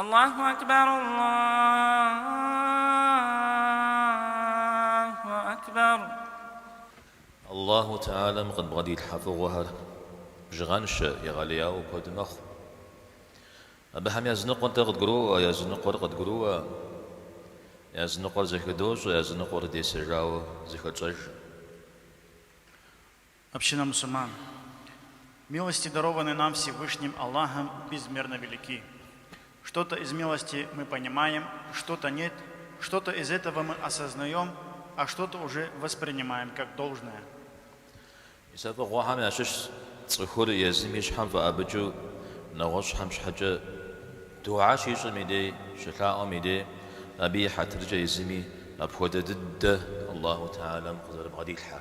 Аллаху Акбар, Аллаху Акбар. Аллаху Тэхьэлам къыдбгъэдилъхьэ фӏыгъуэхэр бжыгъэншэ, егъэлеяуэ куэд мэхъу. Абыхэм языныкъуэр дэ къыдгуроӏуэ, языныкъуэр къыдгурыӏуэ, языныкъуэр зэхыдощӏэ, языныкъуэр десэжауэ зэхэтщӏэжэ. Община мусульман. Милости дарованные нам Всевышним Аллахом безмерно велики. Что-то из милости мы понимаем, что-то нет, что-то из этого мы осознаем, а что-то уже воспринимаем как должное. Мис а фӏыгъуэхэм ящыщщ цӏыхур езым и щхьэм фӏэӏэбыкӏыу нэгъуэщӏхэм щхьэкӏэ дуа щищӏым и дей, щылъаӏуэм и дей, абы и хьэтыркӏэ езыми апхуэдэ дыдэ Аллаху Тэхьэлам къызэрыбгъэдилъхьэ.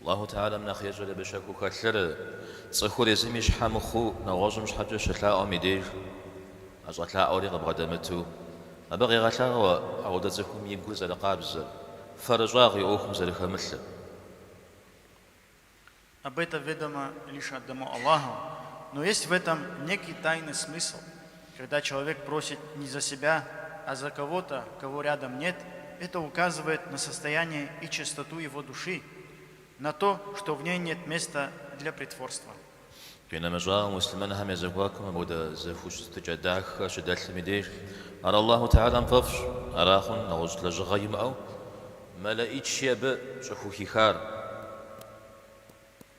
Аллаху Тэхьэлам нэхъ ещӏэри абы щэхуу хэлъыр, цӏыхур езым и щхьэ мыхъуу, нэгъуэщӏым щхьэкӏэ щылъаӏуэм и деж, а щӏэлъаӏуэри къыбгъэдэмыту, абы къегъэлъагъуэ апхуэдэ цӏыхум и гур зэрыкъабзэр, фэрыщӏагъ и ӏуэхум зэрыхэмылъыр. Об этом ведомо лишь одному Аллаху, но есть в этом некий тайный смысл, Когда человек просит не за себя, а за кого-то, кого рядом нет, это указывает на состояние и чистоту его души, на то, что в ней нет места для притворства. Къинэмыщӏауэ, муслъымэнхэм я зэхуакум апхуэдэ зэхущытыкӏэ дахэ щыдэлъым и деж, ар Аллахьу Тэхьэлам фӏэфӏщ, ара хъунщ нэгъуэщӏ лэжьыгъэ имыӏэу мэлэӏычи абы щӏыхухихар.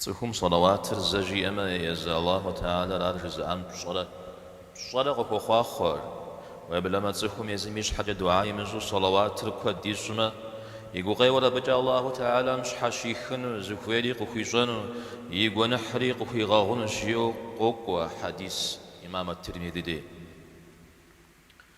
Цӏыхум сэлэуатыр зэ жиӏэмэ, езы Алахьу Тэхьэлар ар жызыӏам пщӏэрэ пщӏэрэ къыхуохъуахъуэр. Уеблэмэ цӏыхум езым и щхьэкӏэ дуа имыщӏу сэлэуатыр куэд ищӏмэ, и гукъеуэр абыкӏэ Алахьу Тэхьэлам щхьэщихыну зыхуейри къыхуищӏэну, и гуэныхьри къыхуигъэгъунущ, жиӏэу къокӏуэ хьэдис Имам ат-Тирмиди дей.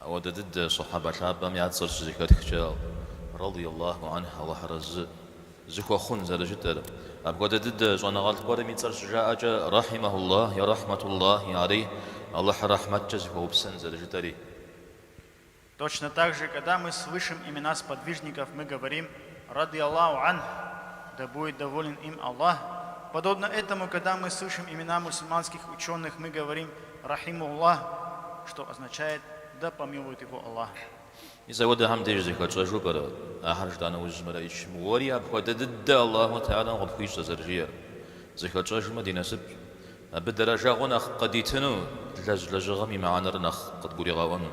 Ауэдэ дыдэ Сохьэбэ лъапӏэм я цӏэр щызэхэтхкӏэ, Рады Аллаху анхь, Аллахь арэзы зыхуэхъун зэрыжытӏэр. Апхуэдэ дыдэ щӏэныгъэлӏ гуэрым и цӏэр щыжаӏэкӏэ, Рахьимэху Аллахь, е Рахьмэту Аллахи алейхь, Аллахьыр рэхьмэткӏэ зыхуэупсэн зэрыжытӏэри. Точно так же, когда мы слышим имена сподвижников, мы говорим, Радий Аллаху анху, да будет доволен им Аллах, Подобно этому, когда мы слышим имена мусульманских ученых, мы говорим Рахимуллах, что означает Да помилует его Аллах. Мис апхуэдэхэм деж зэхэтщӏэжу пӏэрэ ахэр жытӏа нэужь мэлэӏычым уэри апхуэдэ дыдэ Аллаху Тэхьэлам къыпхуищӏэ зэрыжиӏэр? Зэхэтщӏэжмэ ди насып, абы дэрэжэгъуэ нэхъ къыдитыну, длэжь лэжьыгъэм и мыхьэнэр нэхъ къыдгуригъэӏуэну.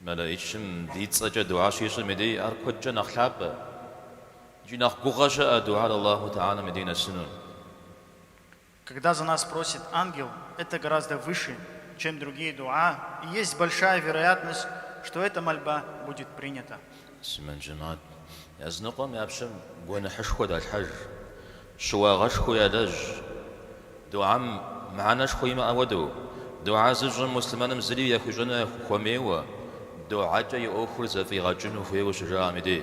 Мэлэичым ди цӏэкӏэ дугьэ щищӏым и дей ар куэдкӏэ нэхъ лъапӏэ икӏи нэхъ гугъэ щыӏэ дугьэр Аллаху Тхьэлэм и дей нэсыну. Когда за нас просит ангел, это гораздо выше, чем другие дуа, и есть большая вероятность, что эта мольба будет принята. Муслъымэн джэмат языныкъуэм я пщэм гуэныхьышхуэ далъхьэж, щыуагъэшхуи ялэжь. Дугьэм мыхьэнэшхуэ имыӏэ хуэдэу, дугьэ зыщӏым муслъымэным зыри яхуищӏэну яхуэмейуэ, дугьэкӏэ и ӏуэхур зэфӏигъэкӏыну хуейуэ щыжаӏэм и дей.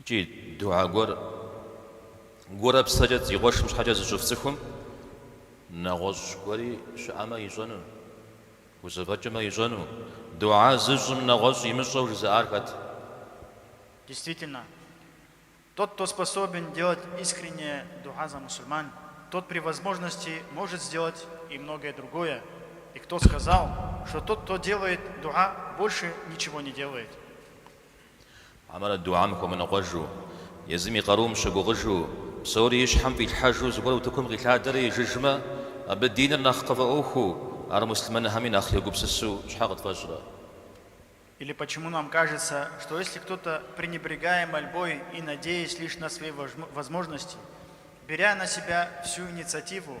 Икӏи дугьэ гуэр гурэ псэкӏэ ди къуэшым щхьэкӏэ зыщӏыф цӏыхум нэгъуэщӏ гуэри щыӏэмэ ищӏэну, хузэфӏэкӏымэ ищӏэну, дугьэ зыщӏым нэгъуэщӏ имыщӏэу жызыӏар хэт? Действительно, тот, кто способен делать искреннее дугьа за мусульман, тот при возможности может сделать и многое другое, и кто сказал, что тот, кто делает дугьа, больше ничего не делает? Хьэмэрэ дугьэм хуэмыныкъуэжу, езым и къарум щыгугъыжу, псори и щхьэм фӏилъхьэжу зыгуэр утыкум къилъадэрэ ижыжмэ, абы диныр нэхъ къыфӏэӏуэхуу, ар муслъымэнхэми нэхъ егупсысу щхьэ къытфӏэщӏрэ? Или почему нам кажется, что если кто-то, пренебрегая мольбой и надеясь лишь на свои возможности, беря на себя всю инициативу,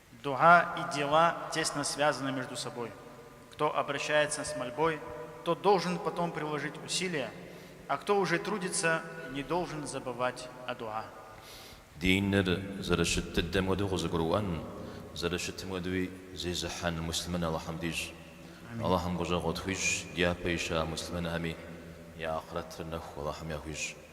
Дуа и дела тесно связаны между собой. Кто обращается с мольбой, тот должен потом приложить усилия, а кто уже трудится, не должен забывать о дуа. Диныр зэрыщыт дыдэм хуэдэу къызыгурыӏуэн, зэрыщытым хуэдэуи зезыхьэн муслъымэн Алыхьым дищӏ. Алыхьым гущӏэгъу къытхуищӏ дяпэ ища муслъымэнхэми я ахърэтыр нэху Алыхьым яхуищӏ.